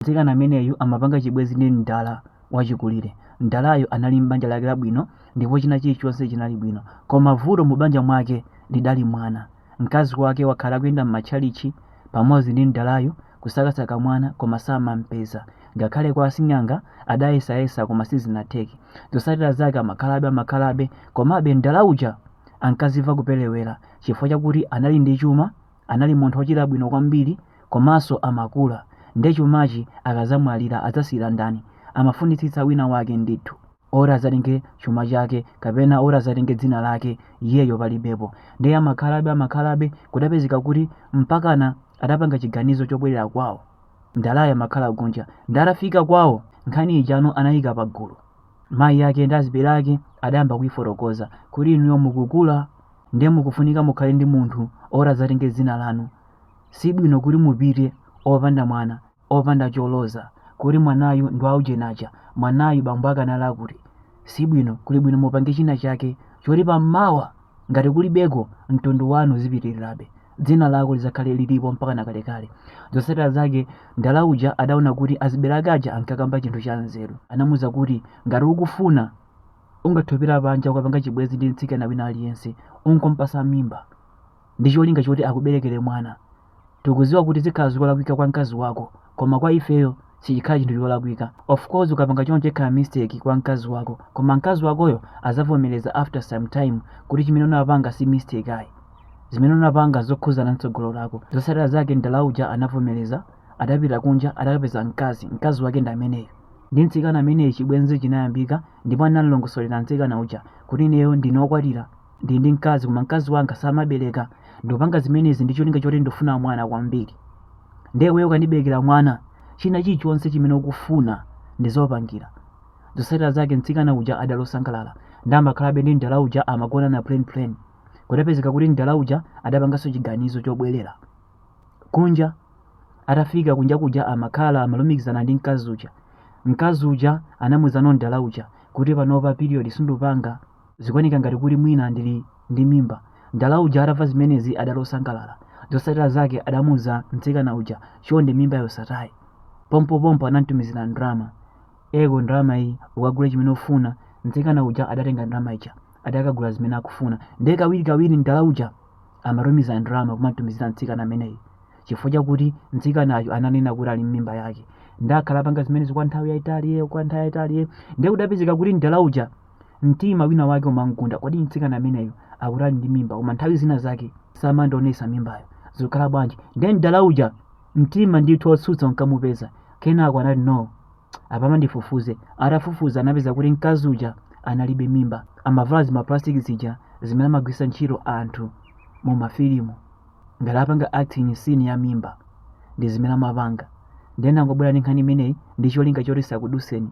Mtsikana ameneyu amapanga chibwenzi ndi mdala wachikulire. Mdalayu anali m'banja lake labwino ndipo china chilichonse chinali bwino. Koma vuto mu banja mwake lidali mwana. Mkazi wake wakhala akuyenda m'matchalitchi pamodzi ndi mdalayu kusakasaka mwana koma samampeza. Ngakhale kwa asing'anga adayesayesa koma sizinatheke. Zotsatira zake amakhalabe amakhalabe komabe mdala uja ankazimva kuperewera chifukwa chakuti anali ndi chuma Anali munthu wochita bwino kwambiri komanso amakula nde chumachi akadzamwalira adzasiyira ndani amafunitsitsa wina wake ndithu oti adzatenge chuma chake kapena oti adzatenge dzina lake iyeyo palibepo nde amakhalabe amakhalabe kudapezeka kuti mpakana adapanga chiganizo chobwerera kwawo mdalayo amakhala kunja nde atafika kwawo nkhani ijano anayika pagulu mayi ake ndi azibale ake adayamba kuifotokoza kuti inuyo mukukula ndiye mukufunika mukhale ndi munthu oti adzatenge dzina lanu si bwino kuti mupite opanda mwana opanda choloza kuti mwanayu ndi waujenaja mwanayu bambo ake anali uti si bwino kuli bwino mupange china chake choti pamawa ngati kulibeko mtundu wanu uzipitilirabe dzina lako lidzakhale lilipo mpakana kalekale zotsatira zake mdala uja adaona kuti azibale ake aja ankakamba chinthu cha nzeru anamuuza kuti ngati ukufuna Ungathe kupita panja ukapanga chibwenzi ndi mtsikana wina aliyense n'kumupatsa mimba ndi cholinga choti akuberekere mwana. Tikudziwa kuti zikhala zolakwika kwa mkazi wako koma kwa ifeyo sichikhala chinthu cholakwika. Of course ukapanga choncho ikhala mistake kwa mkazi wako koma mkazi wakoyo adzavomereza after some time kuti chimene unapanga si mistake ayi. Zimene unapanga nzokhuzana mtsogolo lako. Zotsatira zake mdala uja anavomereza, adapita kunja adakapeza mkazi, mkazi wake ndi ameneyo. ndi mtsikana ameneyu chibwenzi chinayambika ndipo anamulongosolera mtsikana uja kuti ineyo ndine wokwatira ndili ndi mkazi koma mkazi wanga samabereka ndikupanga zimenezi ndi cholinga choti ndifuna mwana kwambiri ndiye iweyo ukandiberekera mwana china chilichonse chimene ukufuna ndidzakupangira zotsatira zake mtsikana uja adali osangalala nde amakhalabe ndi mdala uja amagonana plain plain kudapezeka kuti mdala uja adapanganso chiganizo chobwerera kunja atafika kunja kuja amakhala amalumikizana ndi mkazi uja mkazi uja anamuuzano mdala uja kuti panopa period sindikupanga zikuoneka ngati kuti mwina ndili ndi mimba mdala uja atamva zimenezi adali osangalala zotsatira zake adamuuza mtsikana uja chonde mimbayo usatayi pompopompo anamtumizira ndalama eko ndalama iyi ukagule chimene ufuna mtsikana uja adatenga ndalama ija adakagula zimene akufuna ndiye kawirikawiri mdala uja amatumiza ndalama kumamtumizira mtsikana ameneyi chifukwa chakuti mtsikanayo ananena kuti ali ndi mimba yake ndiye akhala akupanga zimenezi kwa nthawi yayitali ye kwa nthawi yayitali ye ndiye kudapezeka kuti mdala uja mtima wina wake umamgunda kodi mtsikana ameneyo akuti ali ndi mimba koma nthawi zina zake samandionesa mimbayo zikukhala bwanji ndiye mdala uja mtima ndithu wotsutsa unkamupeza kenako anati no apapa ndifufuze atafufuza anapeza kuti mkazi uja analibe mimba amavala zimaplastic zija zimene amagwiritsa ntchito anthu mu mafilimu ngati akupanga acting scene ya mimba ndi zimene amapanga ndiye ndangobwera ndi nkhani imeneyi ndi cholinga choti isakudutseni